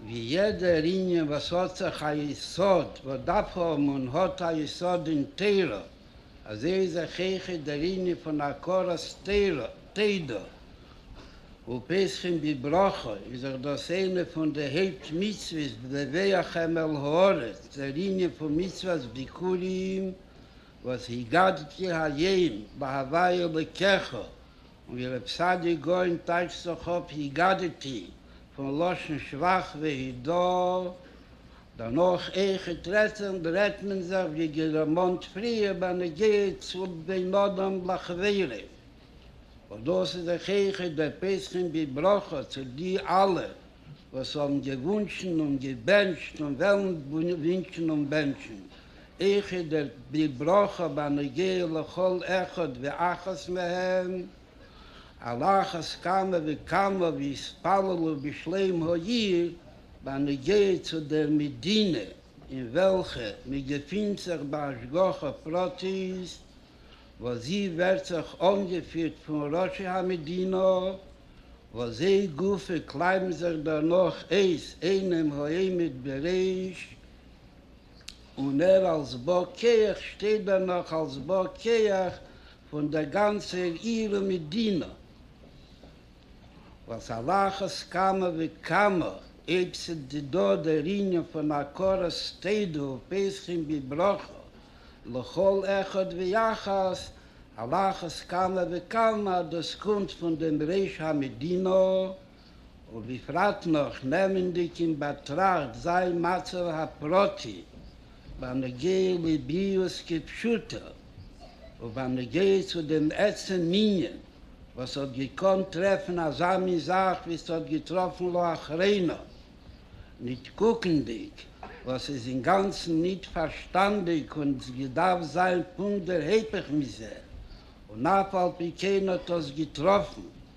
ווי יעדער ענין וואס האט זיך א יסוד וואס דארף האבן און האט א יסוד אין תורה, אזוי איז אויך איך דער ענין פון הכרת תודה ופסחים בברכה איז אויך דאס איינע פון די הויפט מצוות בדווחם אל הארץ, דער ענין פון מצוות ביכורים וואס הגדתי היום בהווי אלוקיך און ווי רב צדיק גאון טייטשט זיך אויף היגדתי פון לשון שבח והידור, דערנאך איכות רצון ברעדט מען זיך ווי געדערמאנט פריער ביי נגיעות בין אדם לחבירו, וואס דאס איז זיך איכות דער פסחים בברכות צו די אלע וואס האבן געוואונטשן און געבענטשט און וועלן ווינטשן און בענטשן איך איז דער בלי ברכה בנוגע לכל אחד ואחת מהם, על אחת כמה וכמה ויתפללו בשלום העיר, בנוגע צו דער מדינה אין וועלכע מען געפינט זיך בהשגחה פרטית, וואס זי ווערט זיך אנגעפירט פון ראשי המדינה, וואס זיי גופא קלייבן זיך דערנאך אויס אינעם העמד בריש. און ער אלס בא כח שטייט דערנאך אלס בא כח פון דער גאנצער עיר ומדינה, וואס על אחת כמה וכמה אויב ס'איז דא דער ענין פון הכרת טוב ופותחין בברכה לכל אחד ויחד, על אחת כמה וכמה אז דאס קומט פון דעם ראש המדינה, ובפרט נאך נעמענדיג אין באטראכט זיין מצב הפרטי בנוגע לביאות כפשוטו ובנוגע צו דעם עצם ענין וואס האט געקאנט טרעפן אזא מין זאך ווי ס'האט געטראפן לאחרונה, ניט קוקנדיג וואס איז אינגאנצן ניט פארשטאנדיג און עס געדארפט זיין פונקט דער היפך מזה, און אף על פי כן האט עס געטראפן.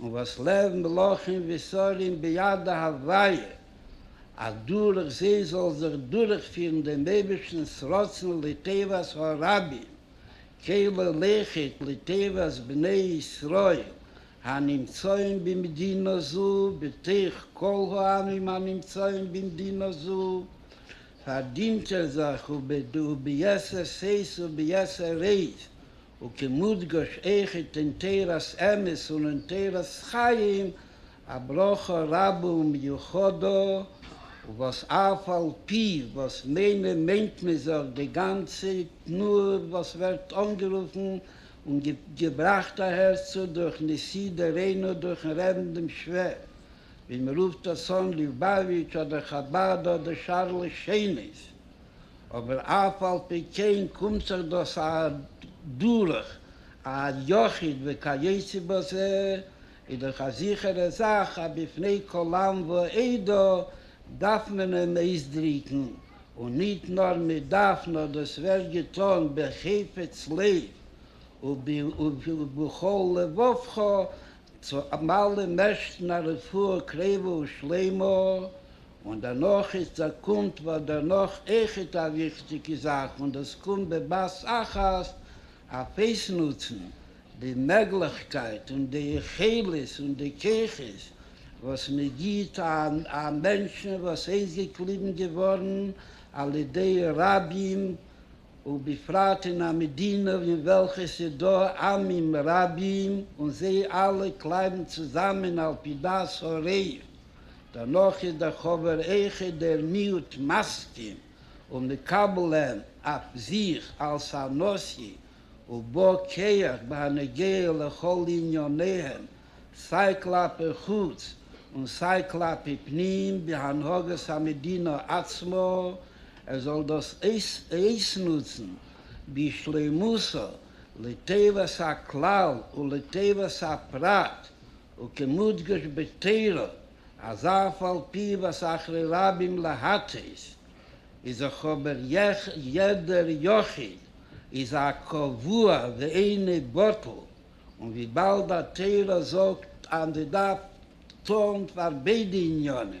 און וואס לב מלכים ושרים ביד הוויה, אז דורך זיי זאל זיך דורכפירן דעם אייבערשטנ'ס רצון לטובת הרבים כעלה לכת לטובת בני ישראל הנמצאים במדינה זו בתוך כל העמים הנמצאים במדינה זו, פארדינט ער זיך וביתר שאת וביתר עוז. וכמודגש איכות אין תורת אמת און אין תורת חיים, א ברכה רבה ומיוחדה, וואס אף על פי וואס מענער מיינט מען זיך די גאנצע תנועה וואס ווערט אנגערופן און געבראכט אהערצו דורך נשיא דורינו דורכן רעבן דעם שווער ווי מ'רופט עס אן ליובאוויטש אדער חבד אדער שאר לשונות, אבער אף על פי כן קומט זיך דאס אדורך א יחיד וכיוצא בזה, איז דאך א זיכערע זאך אז בפני כל עם ועדה דארף מען אים אויסדריקן, און ניט נאר מען דארף נאר דאס ווערט געטאן בחפץ לב ובכל לבבך צו אלעם ערשטן א רפואה קרבה ושלימה, און דערנאך איז צעקומט וואס דערנאך אויכעט א וויכטיגע זאך און דאס קומט בבת אחת אויף אויסנוצן די מעגליכקייט און די יכולת און די כוחות וואס מען גיבט א מענטשן וואס אויסגעקליבן געווארן על ידי רבים ובפרט אין א מדינה אין וועלכע ס'איז דא עמים רבים און זיי אלע קלייבן צוזאמען על פי דעת הרוב. דערנאך איז דער חבר איכער דער מיעוט מסכים און מקבל אים אויף זיך אלס א נשיא ובא כח בהנוגע לכל ענייניהם סיי כלפי חוץ און סיי כלפי פנים בהנהגת המדינה עצמה, ער זאל דאס אויסנוצן בשלימותו לטובת הכלל ולטובת הפרט וכמודגש בתורה אז אף על פי וואס אחרי רבים להטעות איז דאך אבער יעדער יחיד איז א קבוע ואינו בטל און וויבאלד די תורה זאגט אז מ'דארף טון פאר ביידע עניינים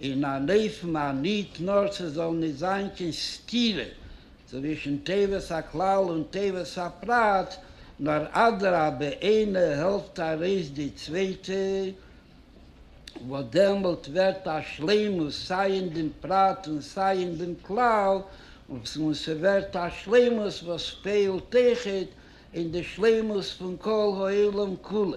אין אן אופן אז ניט נאר ס'זאל ניט זיין קיין סתירה צווישן טובת הכלל און טובת הפרט, נאר אדרבה איינער העלפט ארויס די צווייטע, וואס דעמאלט ווערט א שלימות סיי אין דעם פרט און סיי אין דעם כלל, און ס'ווערט א שלימות וואס פעהלט אויך אין די שלימות פון כל העולם כולו.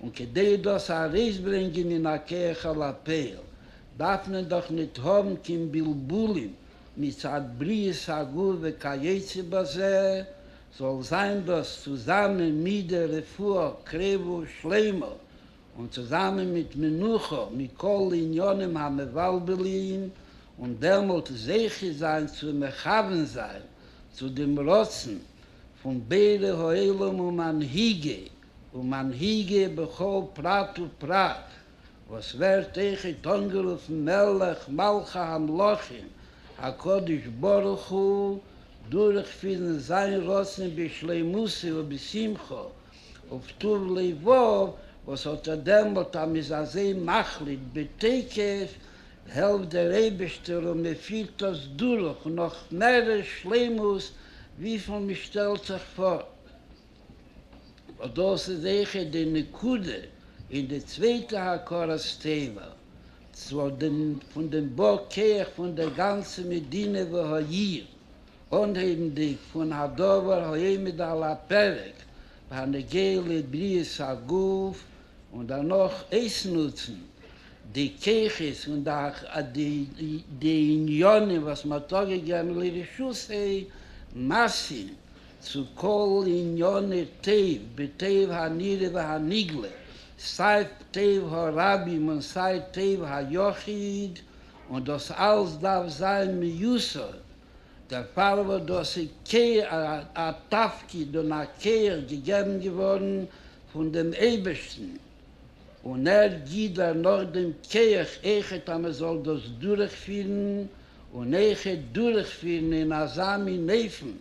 און כדי דאס ארויסברענגען אין א כח אל הפועל דארף מען דאך ניט האבן קיין בלבולים מצד בריות הגוף וכיוצא בזה, זאל זיין דאס צוזאמען מיט דער רפואה קרבה ושלימה און צוזאמען מיט מנוחה מכל ענינים המבלבלים, און דעמאלט זוכה זיין צו מכוון זיין צו דעם רצון פון בורא העולם ומנהיגי ומנהיגי בכל פרט ופרט, וואס ווערט אויכעט אנגערופן מלך מלכי המלכים, הקדוש ברוך הוא, דורכפירן זיין רצון בשלימותו ובשמחו ובטוב לבו, וואס האט ער דעמאלט אז מ'איז אזוי מחליט בתוקף, העלפט דער אייבערשטער און מ'פירט דאס דורך נאך מערער שלימות וויפיל מ'שטעלט זיך פאר. און דאס איז זיכער די נקודה אין די צווייטע הכרת טובה צו דעם פון דעם בא כח פון דער גאנצער מדינה והעיר, אנהייבנדיג פון הדבר העומד על הפרק בהנוגע לבריאת הגוף, און דערנאך אויסנוצן די כחות און די עניינים וואס מען האט אפגעגעבן לרשות ה' מעשים צו כל ענייני טוב בטוב הנראה והנגלה, סיי טוב הרבים און סיי טוב היחיד, און דאס אלץ דארף זיין מיוסד, דערפאר וואס דאס איז א תפקיד און א כח געגעבן געווארן פון דעם אייבערשטן, און ער גיט דערנאך דעם כח אויך אז מען זאל דאס דורכפירן און אויך דורכפירן אין אזא מין אופן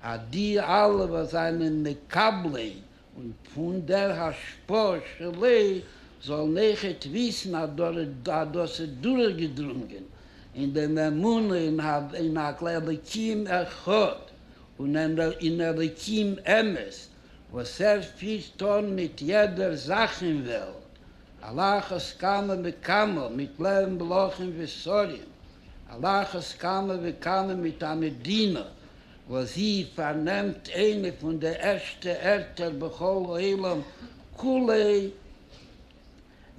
אז די אלע וואס זענען מקבלי און פון דער השפעה של ה' זאלן אויכעט וויסן אז דאס איז דורכגעדרונגען אין דעם אמונה אין אין אלקים אחד און אין אלקים אמת וואס ער פירט אן מיט יעדער זאך אין וועלט על אחת כמה וכמה מיט לערן מלכים ושרים, על אחת כמה וכמה מיט א מדינה וואס זי פארנעמט איינע פון די ערשטע ערטער בכל העולם כולו,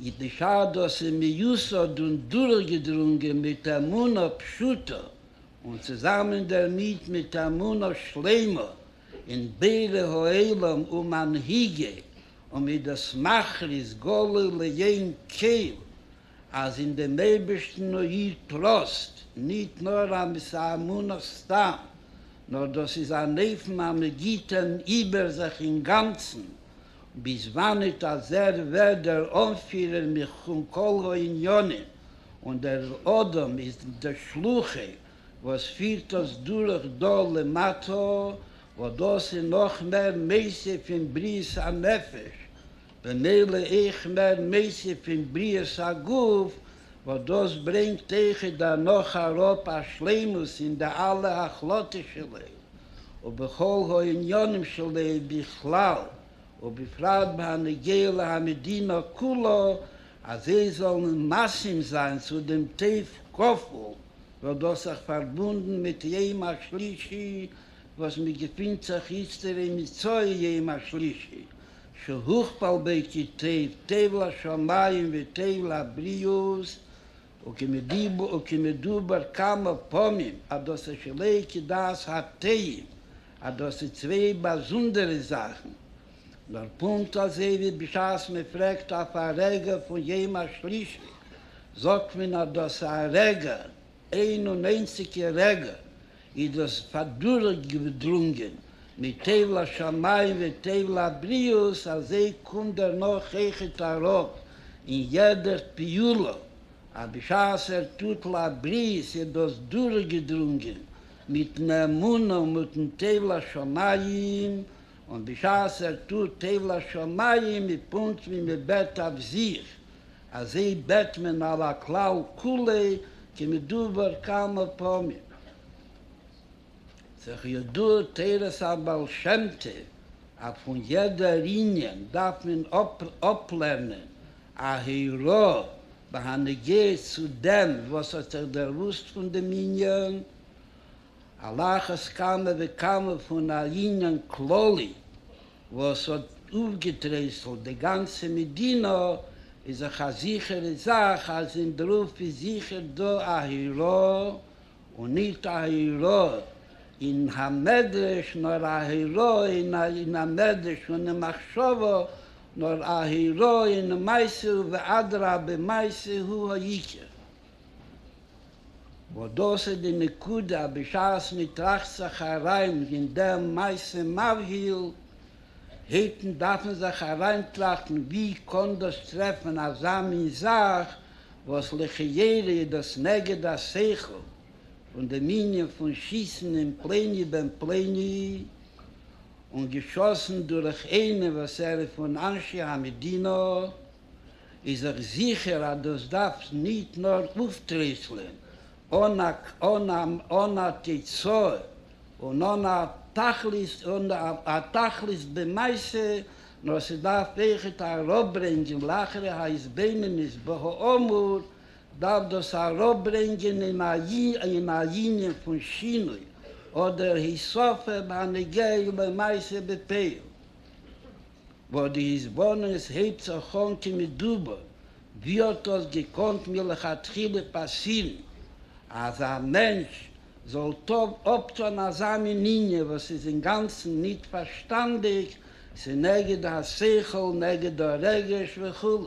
אידיש ארט וואס איז מיוסד און דורכגעדרונגען מיט אמונה פשוטה און צוזאמען דערמיט מיט אמונה שלימה אין בורא העולם ומנהיגי און מיט דאס מכריז גלוי לעין כל אז אין דעם אייבערשטן איד טראסט, ניט נאר אז עס איז אמונה סתם, נאר דאס איז אן אופן אז מען גיט אים איבער זיך אינגאנצן ביז וואנעט אז ער ווערט דער אנפירער מכון כל הענינים און דער אדם איז דער שלוחה וואס פירט אונז דורך דא למטה, וואס דאס איז נאך מער מעשה פין בריאת הנפש, במילא אויך מער מעשה פין בריאת הגוף, וואס דאס ברענגט אויך דערנאך אראפ א שלימות אין די אלע החלטות של לב, ובכל העניינים של לב בכלל, ובפרט בהנוגע להמדינה כולה, אז זיי זאלן מסכים זיין צו דעם טף קפל, וואלט דאס זיך פארבונדן מיט יום השלישי וואס מען געפינט זיך איצטער אין מצוה יום השלישי שהוכפל בו כי טוב טוב לשמים וטוב לבריאות, וכמדובר כמה פעמים אז דאס איז שלא כדעת הטעים, אז דאס איז צוויי באזונדערע זאכן, נאר פונקט אזוי ווי בשעת מען פרעגט אויף א רגע פון יום השלישי, זאגט מען אז דאס א רגע, איין און איינציגע רגע, איז דאס אדורכגעדרונגען מתיב לשמים ותיב לבריות, אזוי קומט דערנאך אויכעט ארויף אין יעדע פעולה אז בשעת ער טוט לברית איז דאס דורכגעדרונגען מיטן אמונה און מיטן תיב לשמים, און בשעת ער טוט עב לשמים איז פונקט ווי מען בעט אויף זיך, אזוי בעט מען על הכלל כולו כמדובר כמה פעמים. ס'איז ידוע תורת הבעל שם טוב אז פון יעדער ענין דארף מען אפלערנען א הערה בהנוגע צו דעם וואס האט זיך דערוואוסט פון דעם ענין, על אחת כמה וכמה פון א ענין כללי וואס האט אויפגעטרייסלט די גאנצע מדינה, איז דאך א זיכערע זאך אז אין דרופ איז זיכער דא א הירא און נישט א הירא אין המדרש, נאר א הירא אין המדרש און אין מחשבה, נאר א הירא אין מעשה ואדרבה מעשה הוא העיקר. וואס דאס איז די נקודה אז בשעת מען טראכט זיך אריין אין דער מעשה מבהיל, היתן דארף מען זיך אריינטראכטן ווי קען דאס טרעפן אזא מין זאך וואס לכאורה איז דאס נגד השכל פון דעם ענין פון שיסן אין פלוני בן פלוני און געשאסן דורך איינעם וואס ער איז פון אנשי המדינה. איז איך זיכער אז דאס דארף ניט נאר אויפטריסלען אן א תוצאה און אן א תכלית, אן א תכלית במעשה, נאר ס'דארף אויכעט אראפברענגען לאחרי ההתבוננות בהאמור, דארף דאס אראפברענגען אין א אין א ענין פון שינוי אדער הוספה הנוגע למעשה בפועל. וואס די התבוננות הייבט זיך אן כמדובר, ווי האט דאס געקאנט מלכתחילה פאסירן אז א מענטש זאל טוב אפטון אזא מין ענין וואס איז אינגאנצן ניט פארשטאנדיק, ס'נגד השכל נגד הרגש וכו'.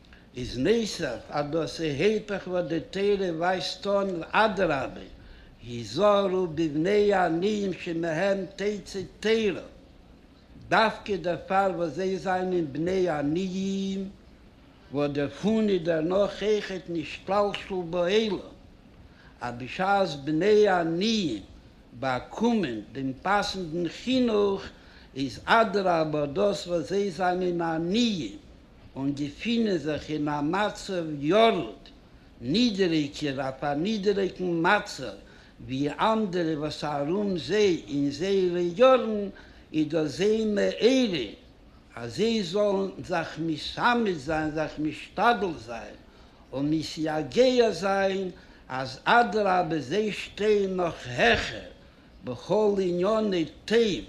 איז נוסף אז דאס איז היפך וואס די תורה ווייזט אן, אדרבה היזהרו בבני עניים שמהם תצא תורה, דווקא דערפאר וואס זיי זענען בני עניים, וואס דערפון איז דערנאך עכת נשתלשל בעולם, אז בשעת בני עניים באקומען דעם פאסנדן חינוך, איז אדרבה דאס וואס זיי זענען עניים, און געפינען זיך אין א מצב ירוד, נידעריגער אויף א נידעריגן מצב ווי אנדערע וואס ארום זיי אין זייערע יארן, איז דאס זיי מעורר אז זיי זאלן זיך משמש זיין, זיך משתדל זיין און מסייגע זיין אז אדרבה זיי שטייען נאך העכער בכל עניני טוב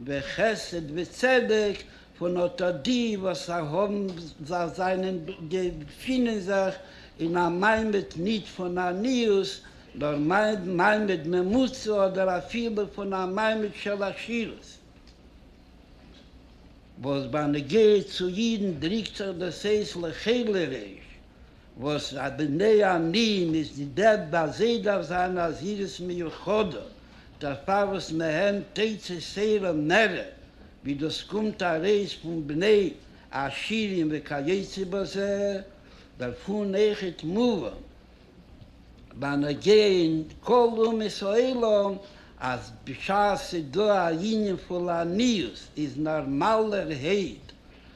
וחסד וצדק, פון אט אט די וואס זענען געפינען זיך אין א מעמד ניט פון עניות, נאר מעמד ממוצע אדער אפילו פון א מעמד של עשירות, וואס ביי נגיעה צו אידן דריקט זיך דאס אויס לכעלערעיש, וואס א בני עמים איז די דעד ביי זיי דארף זיין א זהירות מיוחדה דערפאר וואס מהן תצא שערה מרע ווי דאס קומט ארויס פון בני עשירים וכיוצא בזה דערפון אויכעט מובן בנוגע אין כל אומות העולם אז בשעת ס'דא א ענין פון לעניות איז נארמאלערהייט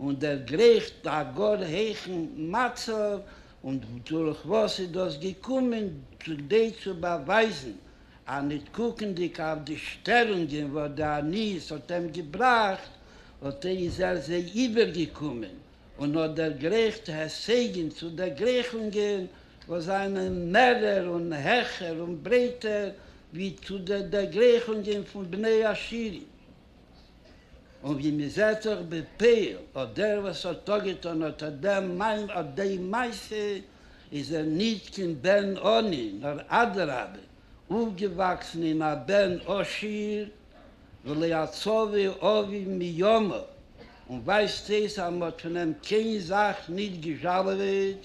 און דערגרייכט א גאר הייכן מצב, און דורך וואס איז דאס געקומען? כדי צו באווייזן אז ניט קוקנדיק אויף די שטערונגען וואס די עניות האט אים געבראכט, האט ער איז ער זיי איבערגעקומען און האט דערגרייכט הישגים צו דערגרייכונגען וואס זיינען מערער און העכער און ברייטער ווי צו די דערגרייכונגען פון בני עשירים. און ווי מען זעט זיך בעפאר האט דער וואס האט אפגעטון האט דעם מיין אט די מעשה איז ער ניט קיין בן עני נאר אדרבה אויפגעוואקסן אין א בן עשיר ולא יצווה אביו מימיו און ווייזט אויס אז מען האט פון אים קיין זאך ניט געזשאלעוועט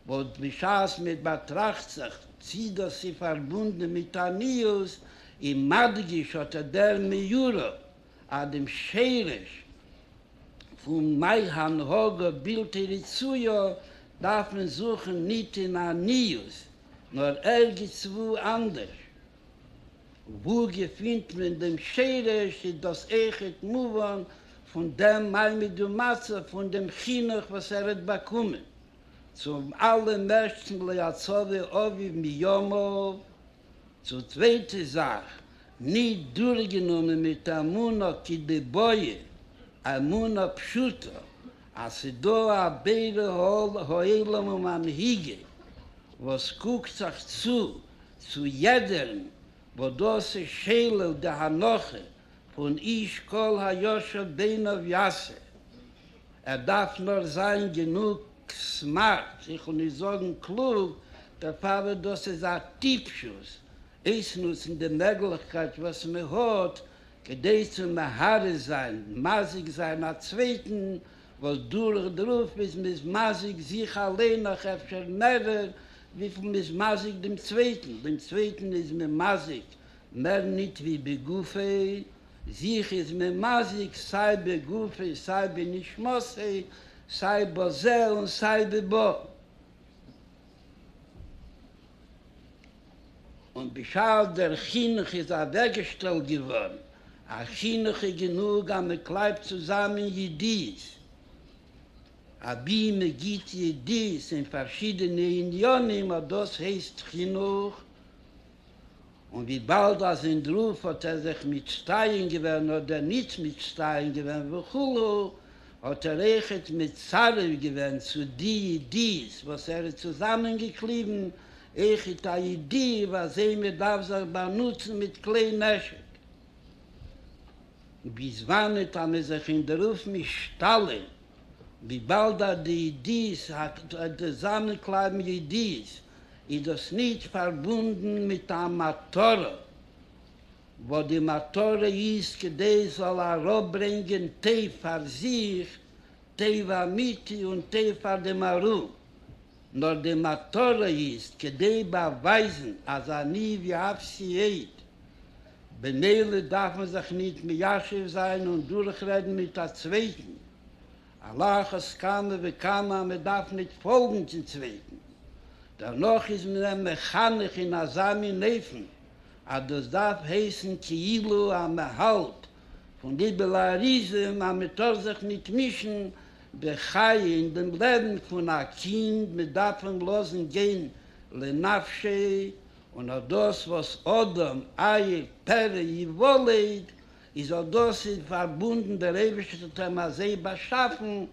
בעת בשעת מען באטראכט זיך צי דאס איז פארבונדען מיט עניות, איז מדגיש אט דער מיורא אז דעם שרש פון מהי הנהגה בלתי רצויה דארף מען זוכן ניט אין עניות, נאר ערגעץ וואו אנדערש. וואו געפינט מען דעם שרש, איז דאס עכט מובן פון דעם מעמד ומצב פון דעם חינוך וואס ער האט באקומען. צום אלעמערשטן לא יצוה אביו מימיו, צו צווייטע זאך נישט דורכגענומען מיט אמונה כדבעיא, אמונה פשוטה אז ס'דא א בורא העולם ומנהיגו וואס קוקט זיך צו צו יעדערן, וואס דאס איז שולל די הנחה פון איש כל הישר בעיניו יעשה, ער דארף נאר זיין גענוג סמארט, איך וויל נישט זאגן קלוג, דערפאר וואס דאס איז א טיפשות אויסנוצן די מעגליכקייט וואס מען האט כדי צו מהרס זיין, מזיק זיין א צווייטן, וואס דורך דערויף איז מען איז מזיק זיך אליין נאך אפשר מערער וויפיל מען איז מזיק דעם צווייטן, דעם צווייטן איז מען מזיק מער ניט ווי בגופי, זיך איז מען מזיק סיי בגופי סיי בנשמתי, סיי בזה און סיי בבא. און בשעת דער חינוך איז אַוועקגעשטעלט געוואָרן, אַ חינוך איז גענוג אַז מען קלייבט צוזאַמען ידיעות, אַבי מען גיט ידיעות אין פאַרשידענע עניינים, אָט דאָס הייסט חינוך. און וויבאלד אז אין דרוף האט ער זיך מצטיין געווען אדער ניט מצטיין געווען וכו', האט ער אויכעט מצרף געווען צו די ידיעות וואס ער האט צוזאמען געקליבן אויכעט א ידיעה וואס זיי מען דארף זיך באנוצן מיט כלי נשק. ביז וואנע טאר מען זיך אינדערופן שטאלען וויבאלד אז די אידיס זאנען קלייבן אידיס איז דאס ניט פארבונדן מיט א מטרה וואס די מטרה איז כדי עס זאל אראפברענגען טוב פאר זיך טוב אמיתי און טוב פאר דעם ארום נאר די מטרה איז כדי באווייזן אז אני ואפסי עד, במילא דארף מען זיך ניט מיישב זיין און דורכרעדן מיט א צווייטן, על אחת כמה וכמה אז מען דארף ניט פאלגן צום צווייטן, דערנאך איז מען אים מחנך אין אזא מין אופן אז דאס דארף הייסן כאילו אז מען האלט פון ליבעלאריזם אז מען טאר זיך ניט מישן בחיי אין דעם לעבן פון א קינד, מען דארף אים לאזן גיין לנפשי, און אט דאס וואס אדם עיב פרא יוולד איז אט דאס איז פארבונדן, דער אייבערשטער האט אים אזוי באשאפן,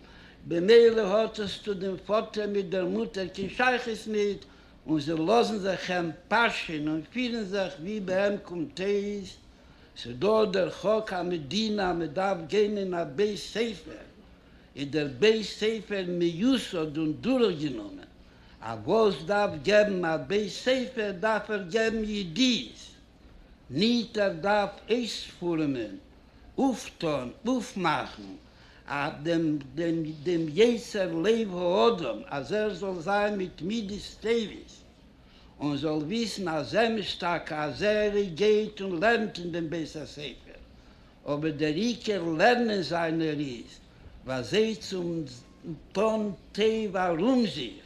במילא האט עס צו דעם פאטער מיט דער מוטער קיין שייכות ניט, און זיי לאזן זיך אים פאשען און פירן זיך ווי ביי אים קומט אויס, ס'איז דא דער חוק המדינה אז מ'דארף גיין אין א בית ספר, איז דער בית ספר מיוסד און דורכגענומען, א וואס דארף געבן א בית ספר דארף ער געבן ידיעות, ניט ער דארף אויספורעמען, אויפטאן, אויפמאכן דעם יצר לב האדם אז ער זאל זיין מיט מידות טובות, און זאל וויסן אז אמת טאקע אז ער גייט און לערנט אין דעם בית הספר, אבער דער עיקר לערנען זיינער איז ביי זיי צום טון טוב ארום זיך,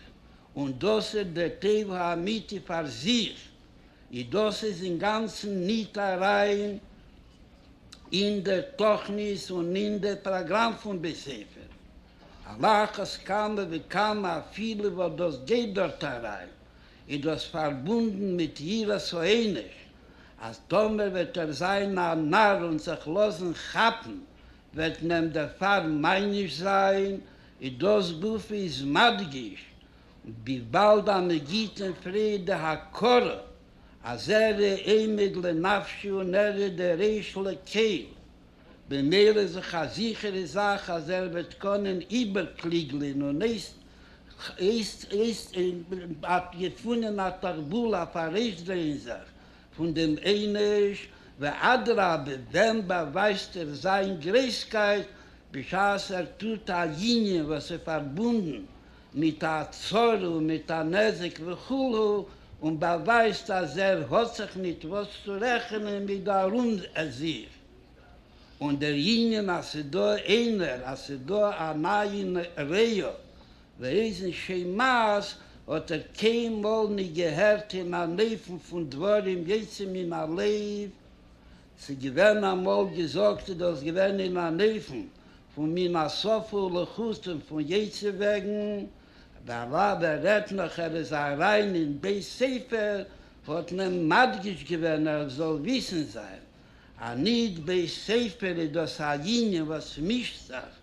און דאס איז דער טוב האמיתי פאר זיך, און דאס איז אינגאנצן ניט אריין אין דער תוכנית און אין דער פראגראם פון בית ספר. על אחת כמה וכמה אפילו וואס דאס גייט דארט אריין, איז דאס פארבונדן מיט יראת העונש, אז טאמער וועט ער זיין א נאר און זיך לאזן כאפן וועט מען דערפאר מעניש זיין, איז דאס גופא איז מדגיש וויבאלד א מגיטין פרעגט די הכרה אז ער איז עומד לנפשו און ער איז די ריש לקיל, במילא איז דאך א זיכערע זאך אז ער וועט קענען איבערקליגלען און געפונען א תרבול אויף ארויסדרייען זיך פון דעם עונש, ואדרבה ווען באווייזט ער זיין גרייסקייט בשעת ער טוט א ענין וואס איז פארבונדן מיט א צרה און מיט א נזק וכו', און באווייזט אז ער האט זיך מיט וואס צו רעכענען מיט די ארום זיך. און דער ענין אז ס'איז דא איינער, אז ס'איז דא א מעיין ראיה ואוזן שומעת, האט ער קיינמאל נישט געהערט אין אן אופן פון דברים יוצאים מן הלב. ס'איז געווען אמאל געזאגט, איז דאס געווען אין אן אופן פון מן השפה ולחוץ און פון יצר וועגן. דערווייל ווען רעדט נאך ער איז אריין אין בית ספר האט מען מדגיש געווען ער זאל וויסן זיין אנידבי ספר איז דאס א יונגען וואס מישט זיך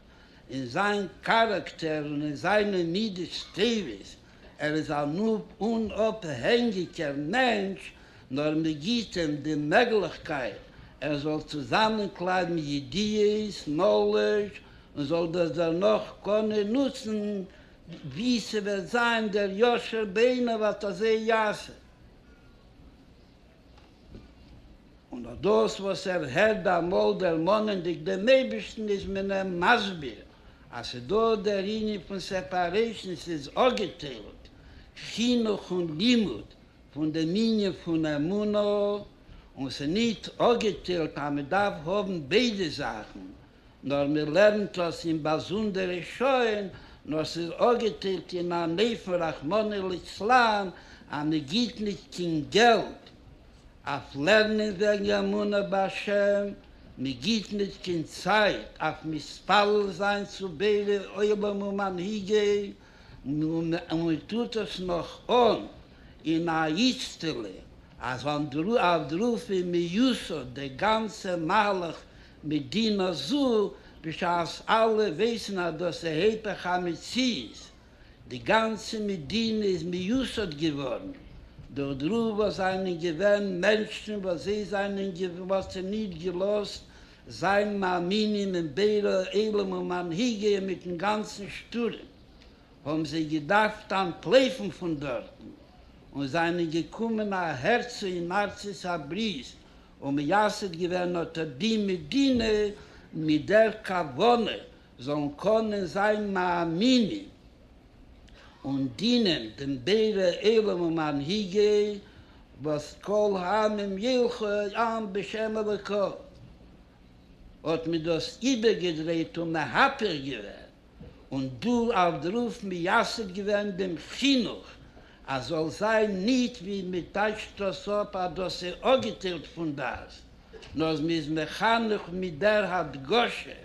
אין זיין כאראקטער און אין זיינע מידות טובות, ער איז אן אומאפהענגיקער מענטש, נאר מען גיט אים די מעגליכקייט ער זאל צוזאמענקלייבן ידיעות, נאלעדזש, און זאל דאס דערנאך קענען נוצן ווי ס'וועט זיין דער ישר בעיניו, אט אזוי יעשה. און אט דאס וואס ער הערט ביי אמאל דערמאנענדיג דעם אייבערשטן איז מען אים מסביר אז ס'איז דא דער ענין פון סעפערעישן, ס'איז אפגעטיילט חינוך און לימוד פון דעם ענין פון אמונה, און ס'איז נישט אפגעטיילט אז מ'דארף האבן ביידע זאכן, נאר מען לערנט עס אין באזונדערע שעה'ן, נאר ס'איז אפגעטיילט אין אן אופן רחמנא ליצלן אז מען גיבט נישט קיין געלט אויף לערנען וועגן אמונה בהשם, מען גיבט נישט קיין צייט אויף מתפלל זיין צו בורא עולם ומנהיגיו, און מען טוט עס נאך אן אין א איצטעלע אז אויף דראפין מיוסד די גאנצע מהלך מדינה זו, בשעת אלע ווייסן אז דאס איז היפך המציאות, די גאנצע מדינה איז מיוסד געווארן דורך די רוב וואס זענען געווען מענטשן וואס זיי זענען געווארן נישט געלאזט זיין מאמינים אין בורא עולם און מנהיג איהם מיטן גאנצן שטורעם, האבן זיי געדארפט אנטלויפן פון דארטן און זענען געקומען אהערצו אין ארצות הברית און מייסד געווען האט ער די מדינה מיט דער כוונה זאלן קענען זיין מאמינים און דינען דעם בורא עולם און מנהיגי וואס כל העמים ילכו עם בשם אלוקיו, האט מען דאס איבערגעדרייט און מהפך געווען. און דא האט דרופ מייסד געווען דעם חינוך אז זאל זיין ניט ווי מען טייטשט דאס אפ אז דאס איז אגעטיילט פון דעת, נאר מען איז מחנך מיט דער הדגשה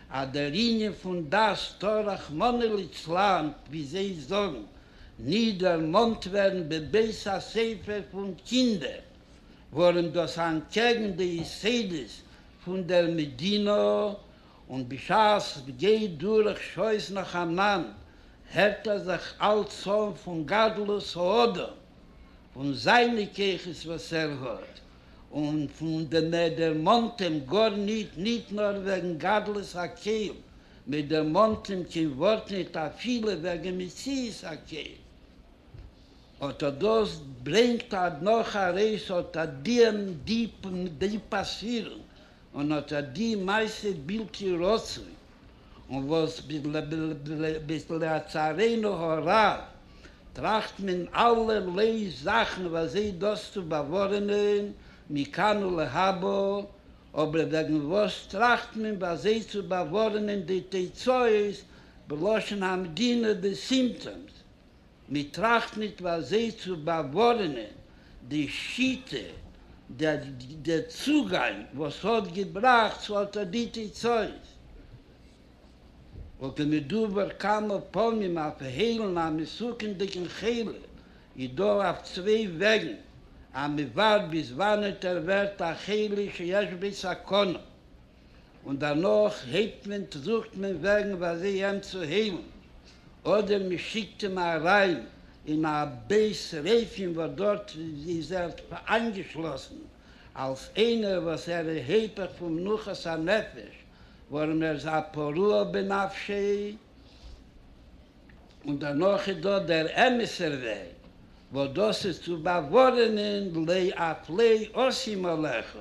אז דער ענין פון דעת טאר רחמנא ליצלן, ווי זיי זאגן, ניט דערמאנט ווערן בבית הספר פון קינדער, ווארום דאס איז אנטקעגן די יסודות פון דער מדינה. און בשעת ס'גייט דורך שעות נאכאנאנד הערט ער זיך אלץ אן פון גדלות האדם, פון זיינע כוחות וואס ער האט, און פון די מען דערמאנט אים גאר ניט, ניט נאר וועגן גדלות הקהל, מען דערמאנט אים קיין ווארט ניט אפילו וועגן מציאות הקהל. אט אט דאס ברענגט אט נאך ארויס אט אט די דיפע דיפע ספירונג און אט אט די מעשה בלתי רצוי און וואס ביז לצערינו הרב טראכט מען אלערליי זאכן וויאזוי דאס צו באווארענען מכאן ולהבא, אבער וועגן וואס טראכט מען וויאזוי צו באווארענען די תוצאות בלשון המדינה די סימפטאמס? מען טראכט ניט ווי אזוי צו באווארענען די שיטה, דער צוגאנג וואס האט געבראכט צו אטא די תוצאות, וואלט מדובר כמה פעמים אויף היילן א מסוכנ'דיגן חולה, איז דא אויף צוויי וועגן אז מען ווארט ביז וואנעט ער ווערט א חולה שיש בו סכנה, און דערנאך הייבט מען טראגט מען וועגן ווייל זיי אים צו היילן, אדער מען שיקט אים אריין אין א בית רופאים וואס דארט איז ער איינגעשלאסן אלס איינער וואס ער איז היפך פון מנוחת הנפש ווארום ער איז א פרוע בנפשו, און דערנאך איז דא דער אמת'ער וועג וואס דאס איז צו באווארענען, לע ע פלעי עושים עליך.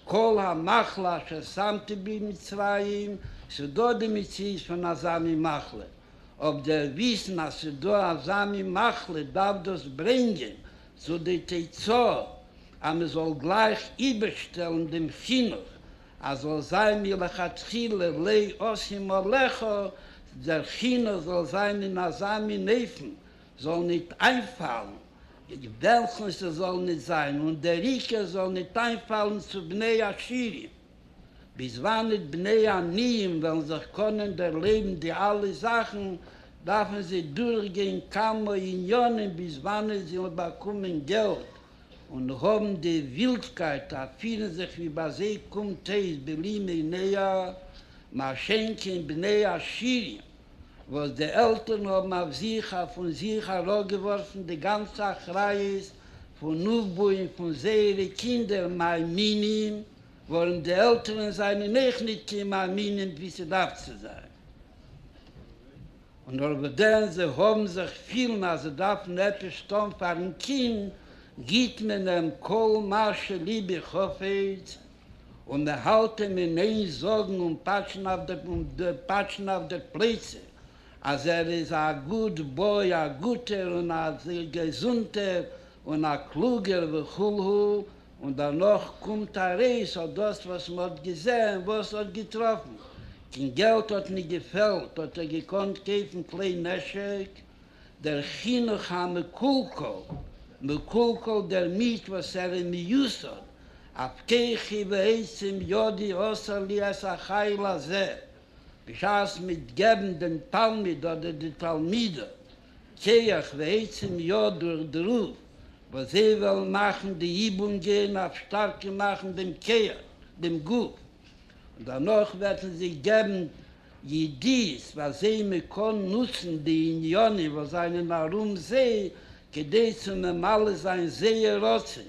כל המחלה אשר שמתי בי מצרים, ס'דא די מציאות פון אזא מין מחלה, אויב דער וויסן אז ס'דא אזא מין מחלה דארף דאס ברענגען צו די תוצאה אז מ'זאל גלייך איבערשטעלן דעם חינוך אז זאל זיין מלכתחילה לא אשים עליך, דער חינוך זאל זיין אין אזא מין אופן זאָל ניט אײַנפֿאַלן, מיט װעלכן ס'זאָל ניט זײַן, און דער עיקר, זאָל ניט אײַנפֿאַלן צו בני-עשירים, ביז װאַנען די בני-עניים װעלן זיך קאָנען דערלעבן די אַלע זאַכן, דאַרפֿן זײ דורכגײן כּמה ענינים, ביז װאַנען זײ װעלן באַקומען געלט און האָבן די װילדקײט אַ פֿירן זיך, װי בײַ זײ קומט אױס, בלימי נאה, מע שענקען בני-עשירים. וואס די עלטערן האבן אויף זיך אויף און זיך אראפגעווארפן די גאנצע אחריות פון אויפבויען פון זייערע קינדער מאמינים, ווארום די עלטערן זיינען אויך ניט קיין מאמינים ווי ס'דארף צו זיין, און נאר וואס דען זיי האבן זיך פילן אז זיי דארפן עפעס טאן פארן קינד, גיט מען אים כל מה שליבו חפץ, און מען האלט אים אין איין זאגן און פאטשן אויף די און פאטשן אויף די פלייצע אז ער איז א גוד בוי, א גוטער און א געזונטער און א קלוגער וכו' און דערנאך קומט ארויס אז דאס וואס מען האט געזען וואס האט געטראפן, קין געלט האט נישט געפעלט האט ער געקאנט קויפן כלי נשק, דער חינוך המקולקל, מקולקל דערמיט וואס ער איז מיוסד אבטיחי ועצם ידי עשה לי את החיל הזה, בשעת מ'עט געבן דעם תלמיד אדער די תלמידה כח ועצם יד דורך די רב וואס זיי וועלן מאכן די איבונגען אויף שטארקער מאכן דעם כח, דעם גוף, און דערנאך וועט מען זיי געבן ידיעות וואס זיי מ'קען נוצן די עניינים וואס זענען ארום זיי כדי צו ממלא זיין זייער רצון.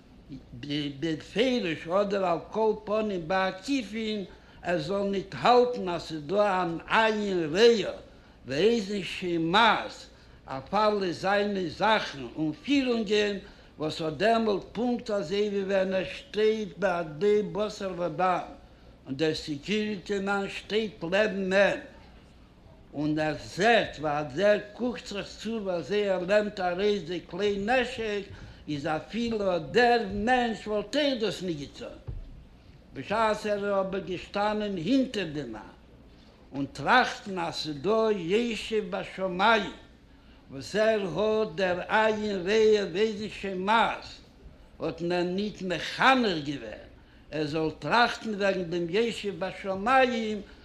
בפירוש אדער על כל פנים בעקיפין ער זאל ניט האלטן אז ס'איז דא אן עיין רעיא ואיזן שימאס אויף אלע זיינע זאכן און פירונגען וואס האט דעמאלט פונקט אזוי ווי ווען ער שטייט בעדי בשר ודם און דער סעקיוריטי מאן שטייט לעבן אים און ער זעט ווי אזער קוקט זיך צו ווי אזוי ער נעמט ארויס די כלי נשק, איז אפילו אט דער מענטש וואלט אויך דאס נישט געטון, בשעת ער איז אבער געשטאנען הינטער די מאן, און טראכטן אז ס'איז דא ישוב בשמים וואס ער האט דער עין רעה וועגן שמות, האט מען אים ניט מחנך געווען ער זאל טראכטן וועגן דעם ישוב בשמים,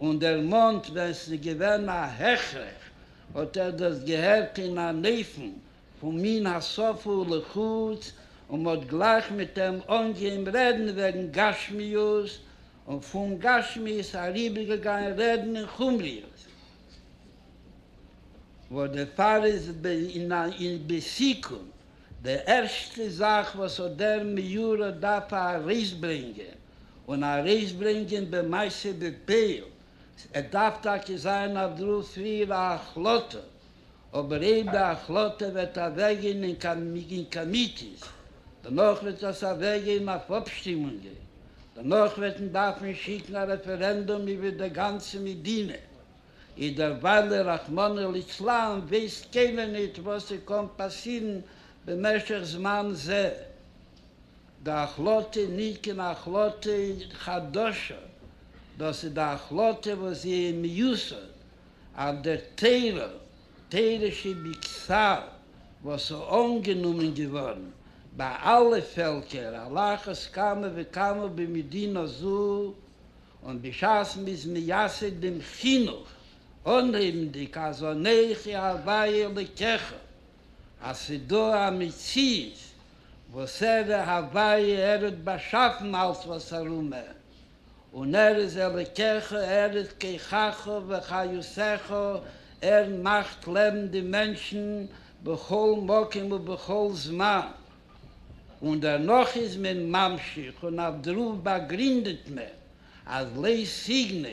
און דערמאנט ווען ס'איז געווען א הכרח האט ער דאס געהערט אין אן אופן פון מן השפה ולחוץ, און מ'האט גלייך מיט אים אנגעהויבן רעדן וועגן גשמיות, און פון גשמיות אריבערגעגאנגען רעדן אין חומריות, וואס דערפאר איז אין בסיכום די ערשטע זאך וואס האט דער מיורא דארף ארויסברענגען. און ארויסברענגען במעשה בפועל, עס דארף טאקע זיין אויף דרור פריער א החלטה, אבער אויב די החלטה וועט אוועקגיין אין קאמיטיס, דערנאך וועט עס אוועקגיין אויף אפשטימונגען, דערנאך וועט מען דארפן שיקן א רעפערענדום איבער די גאנצע מדינה, איז דערוויילע רחמנא ליצלן ווייסט קיינער ניט וואס ס'קען פאסירן במשך זמן זה. די החלטה איז נישט קיין החלטה חדשה, דאס איז די החלטה וואס זי איז מיוסד אויף דער תורה, תורה שבכתב, וואס איז אנגענומען געווארן ביי אלע פעלקער על אחת כמה וכמה במדינה זו, און בשעת מען איז מייסד דעם חינוך, אנהייבנדיג אז אנכי ה' אלקיך, אז ס'איז דא א מציאות וואסערע הוויה ער האט באשאפן אלס וואס ארומער, און ער איז אלוקיך, ער איז כוחך וחיותך, ער מאכט לעבן די מענטשן בכל מקום ובכל זמן, און דערנאך איז מען ממשיך און אויף דערויף באגרינדעט מען אז לעת סיגנא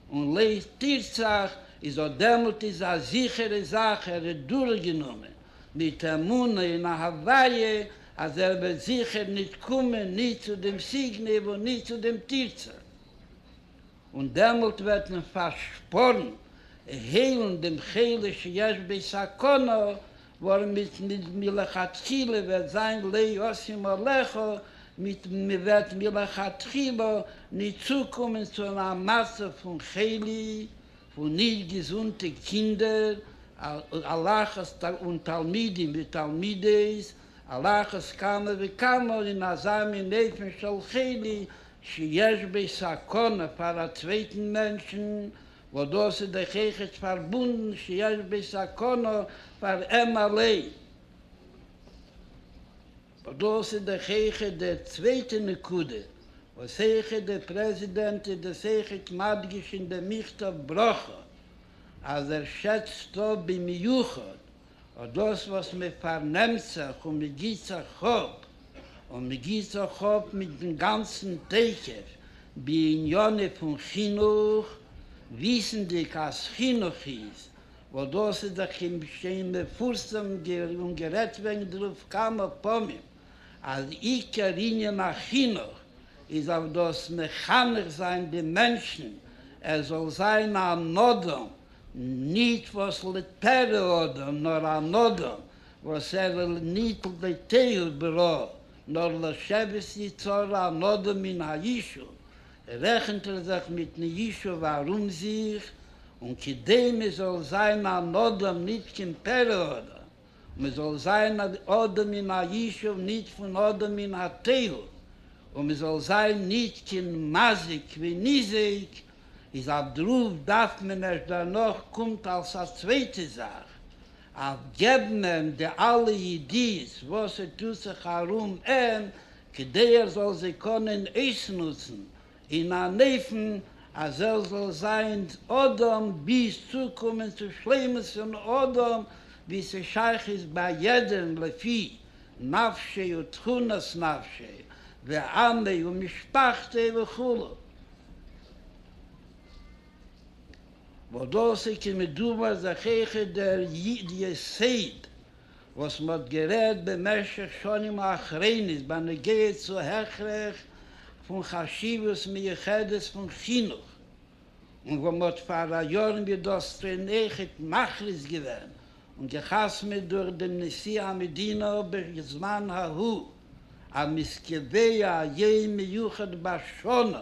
און לעת תרצח איז אט דעמאלט איז א זיכערע זאך ער האט דורכגענומען מיט אמונה און א הוויה אז ער וועט זיכער ניט קומען ניט צו דעם סיגנעוו און ניט צו דעם תרצה, און דעמאלט וועט מען פארשפארן און היילן דעם חולה שיש בו סכנה, ווארמיט מלכתחילה וועט זיין לא ישים עליך, מיט וואס מען וועט מלכתחילה ניט צוקומען צו א מצב פון חולי פון נישט געזונטע קינדער, הלכות און תלמידים ותלמידות, הלכות כמה וכמה אין אזא מין אופן של חולי שיש בו סכנה פאר א צווייטן מענטשן, וואס דאס איז דאך עכת פארבונדן שיש בו סכנה פאר אים אליין. ווייל דאס איז דאך העכער די צווייטע נקודה וואס העכער די פרעזידענט איז דאס העכער מדגיש אין די מכתב ברכה אז ער שעצט אפ במיוחד אט דאס וואס מען פארנעמט זיך און מען גיבט זיך אפ און מען גיבט זיך אפ מיטן גאנצן תוקף בעניינים פון חינוך וויסנדיג אז חינוך איז וואס דאס איז דאך אים שוין מפורסם און גערעדט וועגן דערויף כמה פעמים אז עיקר ענין החינוך איז אויף דאס מחנך זיין די מענטשן ער זאל זיין אן אדם, ניט וואס לטערע אדם נאר אן אדם וואס ער איז ניט לטעהו ברעה נאר לשבת יצרו אן אדם מן הישוב רעכנט ער זיך מיטן יישוב ארום זיך, און כדי מען זאל זיין אן אדם ניט כעם פרא אדם, און מען זאל זיין אן אדם אין א יישוב ניט פון אדם אין א טייל, און מען זאל זיין ניט כעם מזיק ווי ניזק, איז א דרוף דארף מען ערשט דערנאך קומט אלס א צווייטע זאך, אויף געבן אים די אלע ידיעות וואס ס'טוט זיך ארום אים, כדי ער זאל זיי קענען אויסנוצן אין אן אופן אז ער זאל זיין אדם ביז צוקומען צו שלימות פון אדם, ווי ס'שייך איז ביי יעדעם לפי נפשו ותכונת נפשו ועמו ומשפחתו וכו'. וואס דאס איז כמדומה זכיך דער יסוד וואס מען האט גערעדט במשך שנים האחרונות בנוגע צו הכרח פון חשיבות מיוחדת פון חינוך, און וואו מען האט פאראיאר מיט דאס טרינעכיט מכריז געווען און געחתמעט דורך דעם נשיא המדינה בזמן ההוא אז מ'איז קובע א יום מיוחד בשנה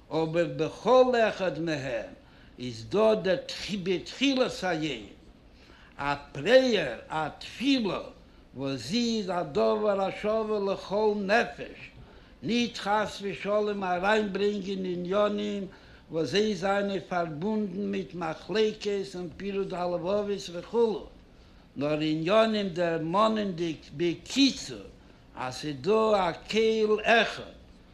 אבער בכל אחד מהם איז דא דער בתחילת היום א פרעיער, א תפילה, וואס זי איז א דבר השווה לכל נפש, נישט חס ושלום אריינברענגען עניינים וואס זיי זענען פארבונדן מיט מחלוקת און פירוד הלבבות וכו', נאר עניינים דערמאנענדיג בקיצור אז ס'דא א קהל אחד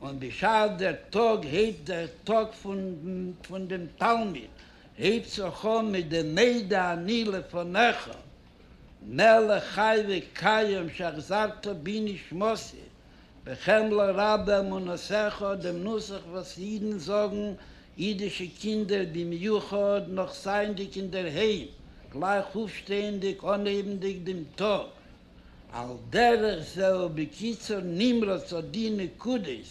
און בשעת דער טאג הייבט דער טאג פון דעם תלמיד הייבט זיך אן מיט די מדה אני לפניך מלך חי וקיים שהחזרת בי נשמתי בחמלה רבה אמונתך, דעם נוסח וואס אידן זאגן, אידישע קינדער במיוחד, נאך זייענדיג אינדערהיים, גלייך אויפשטייענדיג אנהייבנדיג דעם טאג, על דרך זה ובקיצור נמרץ אט די נקודות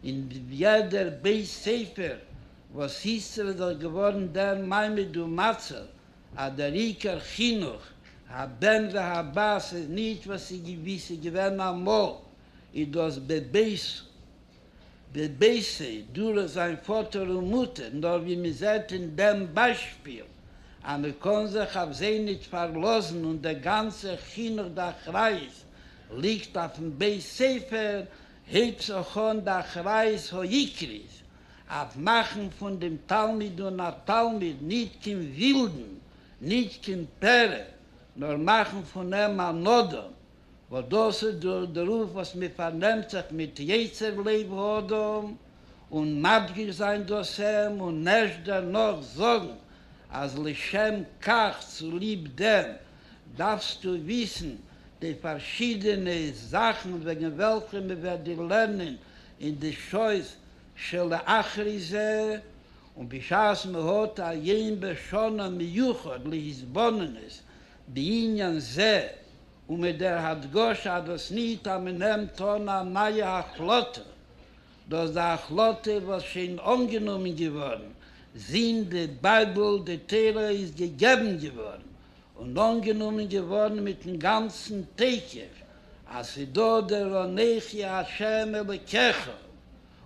אין יעדער בית ספר וואס איז דאך געווארן דער מעמד ומצב אז דער עיקר חינוך הבן והבת איז נישט וואס איז געווען אמאל איז דאס בבית די בעיסי דורך זיין פאטער און מוטער, נאר ווי מען זעט אין דעם ביישפיל אז מען קען זיך אויף זיי ניט פארלאזן און דער גאנצער חינוך די אחריות ליגט אויפן בית ספר, הייבט זיך אן די אחריות העיקרית אויף מאכן פון דעם תלמיד און א תלמיד ניט קיין ווילדן, ניט קיין פרא, נאר מאכן פון אים אן אדם, וואס דאס איז דאס דערויף וואס מען פארנעמט זיך מיט יצר לב האדם, און מדגיש זיין דאס אים, און ערשט דערנאך זאגן אז לשם כך, צוליב דעם, דארפסטו וויסן די פארשידענע זאכן וועגן וועלכע מען וועט דיר לערנען אין די שעות שלאחרי זה, און בשעת מען האט א יום בשנה מיוחד להתבוננות בענין זה, און מיט דער הדגשה אז דאס ניט אז מען נעמט אן א נייע החלטה, דאס די החלטה וואס שוין אנגענומען געווארן, זינט די בייבל, די תורה, איז געגעבן געווארן און אנגענומען געווארן מיט'ן גאנצן תוקף, אז ס'איז דא דער אנכי השם אלוקיך,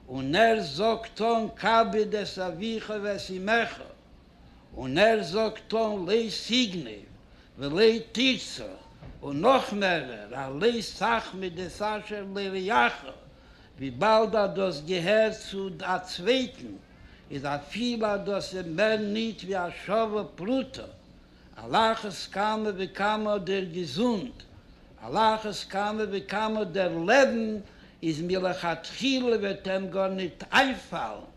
און ער זאגט אן כבד את אביך ואת אמך. און ער זאגט אן לע סיגני ולע תרצה און נאך מערער א לע סכמי דעס אשר לרעך, וויבאלד אז דאס געהערט צו א צווייטן איז אפילו אז דאס איז מער ניט ווי א שווה פרוטה, על אחת כמה וכמה דער געזונט, על אחת כמה וכמה דער לעבן איז מלכתחילה וועט עהם גארניט איינפאלן.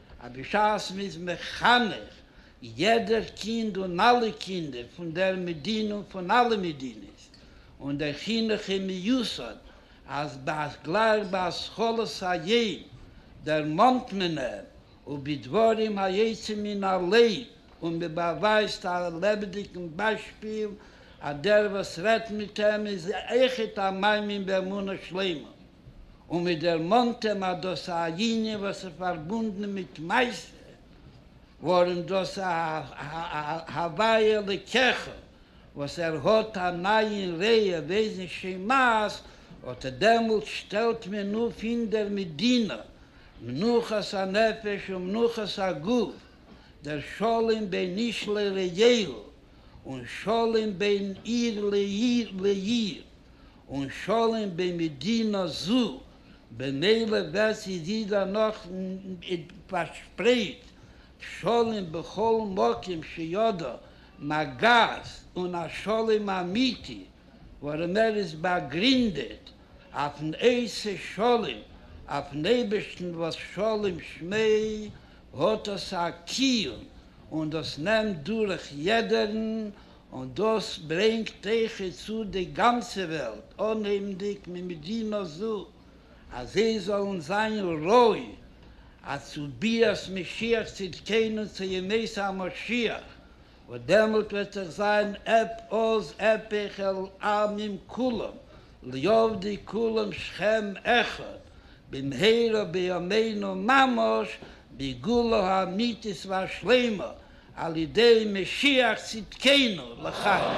אז בשעת מען איז מחנך יעדער קינד און אלע קינדער פון דער מדינה און פון אלע מדינות, און דער חינוך איז מיוסד אז גלייך בהשכלת העין דערמאנט מען אים ובדברים היוצאים מן הלב, און מען באווייזט א לעבעדיגן ביישפיל אז דער וואס רעדט מיט אים איז עכט א מאמין באמונה שלימה. און מען דערמאנט אים אז דאס א ענין וואס איז פארבונדן מיט מעשה, ווארום דאס א הוויה לקחה וואס ער האט א נייען ראיה וועזן שמעז, אט דעמאלט שטעלט מען אפ אין דער מדינה מנוחת הנפש ומנוחת הגוף, דער שלום בין איש לרעהו און שלום בין עיר לעיר, און שלום במדינה זו, במילא ווערט זי ווידער נאך פארשפרייט, שלום בכל מקום שידו מגעת, און א שלום אמיתי ווארום ער איז באגרינדעט אויפן עשה שלום, אויפן אייבערשטן וואס שלום שמי' האט דאס א קיום, און דאס נעמט דורך יעדערן און דאס ברענגט איכה צו די גאנצע וועלט, אנהייבנדיג ממדינה זו, אז זיי זאלן זיין ראוי עד צו ביאת משיח צדקינו צו ימי המשיח, וואס דעמאלט וועט זיך זיין עפ עוז עפיך על עמים כולם ליאבדי כולם שכם אחד, במהרה בימינו ממש בגאולה האמיתית והשלימה, על ידי משיח צדקינו לחיים.